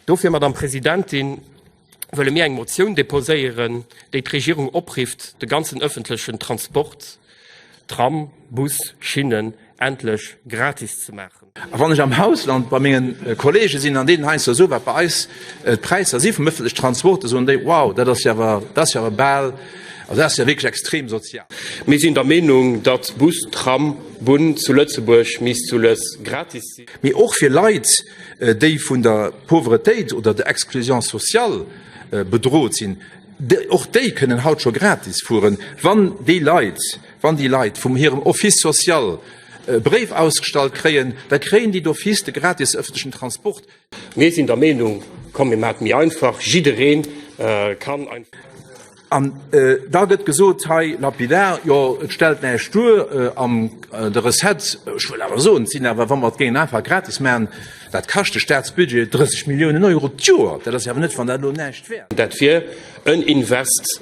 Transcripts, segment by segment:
Dofir, Madame Presidentin, wëlle mir eng Motioun deposéieren, déi d'Regierung oprifft, de ganzen öffentlechen Transport, Tram, Bus, Schinnen, endlech gratis ze maachen. A wann ech am Ausland bei menge Kollege sinn an deenen heiansdo soe wat bei eis d'Präisser si vum öffentlechen Transport, da soen déi, wow, dat ass jo awer, dat ass jo awer bal, also dat ass jo wierklech extrem sozial. Mir sinn der Meenung, datt Bus, Tram, Bunn zu Lëtzebuerg misst soules gratis sinn. Mee och fir Leit, déi vun der Pauvretéit oder der Exclusion sociale bedrot sinn, och déi kënnen haut scho gratis fueren, wann déi Leit, wann déi Leit vum hirem Office social e Bréif ausgestallt kréien, da kréien déi d'office de gratis ëffentlechen Transport. Mir sinn der Meenung, komm mir maachen et méi einfach, jidderee kann einfach. An äh, da gëtt gesot hei lapidar, jo et stellt näi Stur äh, am äh, de Reset schwuel awer so sinn awer wann mat géint einfach gratis man, dat kaschte Staatsbudget 30 Millioen Euro d'Joer, dat ass awer net van dat lo näicht wär. Dat wier en Invest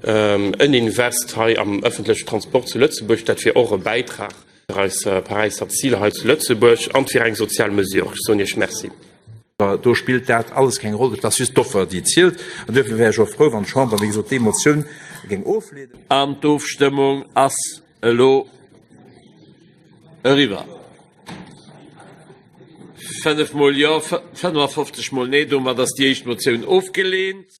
ähm, en Invest hei am ëffentleche Transport zu Lëtzebuerg, dat wier och e Bäitrag. fir eis Paräisser Zil hei zu Lëtzebuerg an fir eng sozial Mesure. Ech soen Iech Merci. Do spillt dat alles keng Roll, et ass just d'Offer, déi zielt. An duerfir wär ech och frou, wann d'Chamber, wéi gesot, déi Motioun géing ofleenen. An d'Ofstëmmung ass elo eriwwer. Fënnef Mol Jo, 55 Mol Nee. Domat ass déi éischt Motioun ofgelehnt.